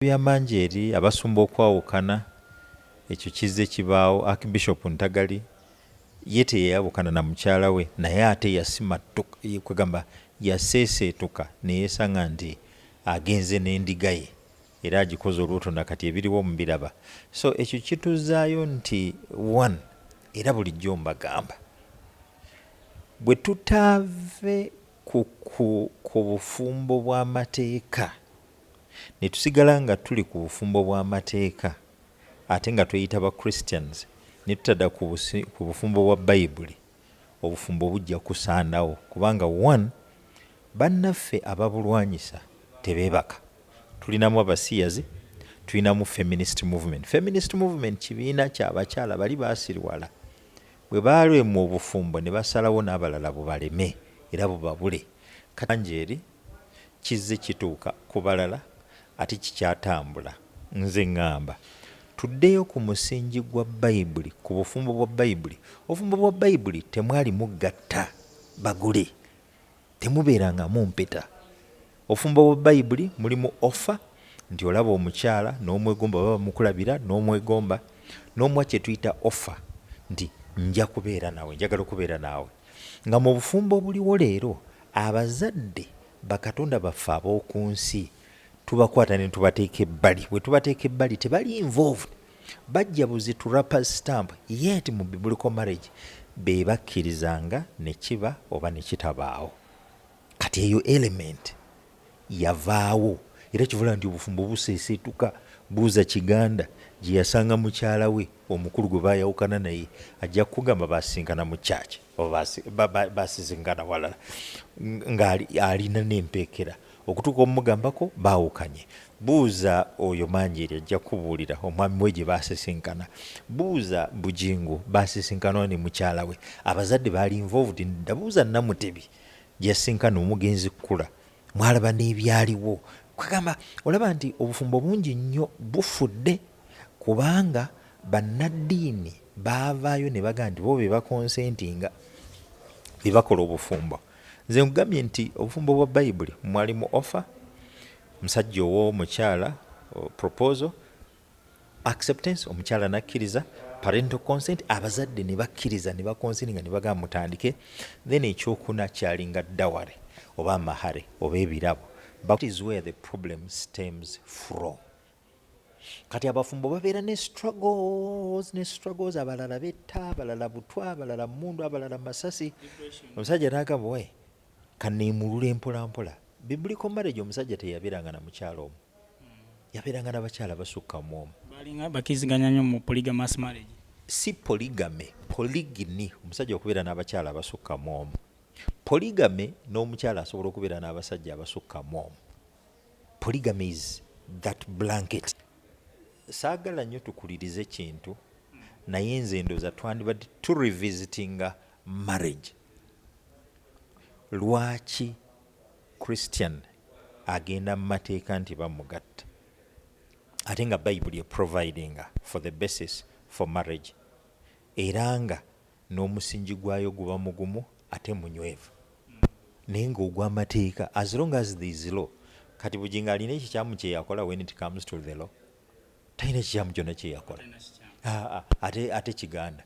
bya mangi eri abasumba okwawukana, ekyo kizze kibaawo. Archbishop Ntagali ye teyayawukana na mukyala we naye ate yasimattuka, kwegamba yaseeseetuka ne yeesanga nti agenze n'endiga ye era agikoze olubuto na kati ebiriwo mubiraba. So ekyo kituzzaayo nti one era bulijjo mbagamba bwe tutaave ku ku ku bufumbo bw'amateeka, ne tusigala nga tuli ku bufumbo bwa mateeka ate nga tweyita ba Christians ne tutada ku bufumbo bwa Bayibuli, obufumbo bujja kusaanawo kubanga one bannaffe ababulwanyisa tebebaka, tulinamu abasiyazi, tulinamu feminist movement. Feminist movement kibiina kya bakyala bali basiriwala bwe balemwa obufumbo ne basalawo n'abalala bubaleme era bubabule. Kati langi eri. kizze kituuka ku balala ate kikyatambula. Nze ngamba tuddeyo ku musingi gwa Bayibuli, ku bufumbo bwa Bayibuli. Obufumbo bwa Bayibuli temwalimu gatta bagole, temubeerangamu mpeta. Obufumbo bwa Bayibuli mulimu offa nti olaba omukyala n'omwegomba oba bamukulabira n'omwegomba, n'omuwa kye tuyita offa nti nja kubeera nawe, njagala okubeera naawe. Nga mu bufumbo obuliwo leero, abazadde, bakatonda baffe ab'oku nsi, tubakwata ne tubateeka ebbali. Bwe tubateeka ebbali, tebali involved. Bajja buzi to wrappers stamp, yet mu Biblical marriage be bakkirizanga ne kiba oba ne kitabaawo. Kati eyo element yavaawo era kivula nti obufumbo buseeseetuka. Buuza Kiganda gye yasanga mukyala we omukulu gwe baayawukana naye, ajja kukugamba baasisinkana mu church oba baasisinkana walala ng'alina n'empeekera. Okutuuka okumugambako baawukanye. Buuza oyo Manjeeri ajja kukubuulira omwami we gye baasisinkana. Buuza Bugingo baasisinkana ne mukyala we. Abazadde baali involved nedda. Buuza Namutebi Gyeyasinkana omugenzi Kkula mwalaba n'ebyaliwo. Kwegamba olaba nti obufumbo bungi nnyo bufudde kubanga bannaddiini baavaayo ne bagamba nti bo be bakonsentinga be bakola obufumbo. Nze nkugambye nti obufumbo bwa Bayibuli mwalimu ofa, omusajja owa omukyala proposal, acceptance omukyala nakkiriza parental consent abazadde ne bakkiriza ne bakonsininga ne bagamba mutandike then ekyokuna kyalinga daware oba amahare oba ebirabo but is where the problem stems from kati abafumbo babeera ne struggles ne struggles abalala betta abalala butwa abalala mundu abalala masasi omusajja nagamba we Kaneemulule mpola mpola, Biblical marriage omusajja teyabeeranga na mukyala omu, yabeeranga n'abakyala abasukka mu omu. Baalinga bakkiriziganya nnyo mu polygamous marriage. Si polygamy, polygyny, omusajja okubeera n'abakyala abasukka mu omu. Polygamy n'omukyala asobola okubeera n'abasajja abasukka mu omu. Polygamy is that blanket. Saagala nnyo tukulirize kintu naye nze ndowooza twandibadde tu revisitinga marriage. Lwaki Christian agenda mumateeka nti bamugatta ate nga bayibuli e providinga for the basis for marriage era nga nomusinji gwayo guba mugumu ate munywevu naye nga ogwamateeka as long as there is law kati Bugingo alina ekikyamu kyeyakola when it comes to the law? Talina kikyamu kyona kyeyakola ate kiganda.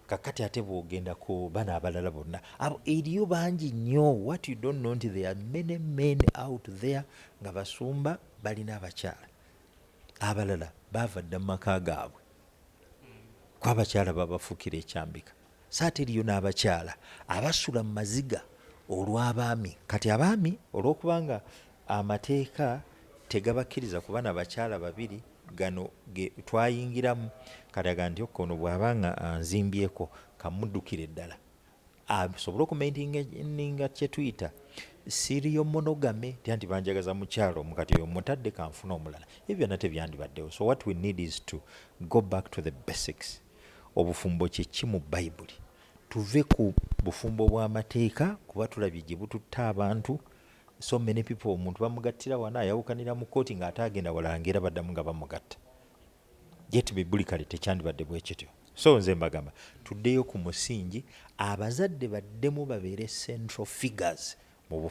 kakati ate bwogenda ku bana abalala bonna abo eriyo bangi nnyo what you don't know nti there are many men out there nga basumba balina abakyala abalala baava dda mu maka gaabwe kwabakyala babafukira ekyambika So ate eriyo n'abakyala abasula mu maziga olw'abaami. Kati abaami olw'okuba nga amateeka tegabakkiriza kuba na bakyala babiri, gano ge twayingiramu kati aga nti ok ono bw'aba nga anzimbyeko ka mmuddukire ddala asobole okumaintininga kye tuyita serial monogamy tya nti banjagaza mukyalo omu kati oyo mmutadde ka nfune omulala. Ebyo byonna tebyandibaddewo. So what we need is to go back to the basics. Obufumbo kye ki mu Bayibuli? Tuve ku bufumbo bwa mateeka kuba tulabye gye bututte abantu. So many people omuntu bamugattira wano ayawukanira mu kkooti ng'ate agenda wala ng'era baddamu nga bamugatta. Yet Biblically tekyandibadde bwe kityo. So nze mbagamba tuddeyo ku musingi abazadde baddemu babeere central figures mu bufumbo.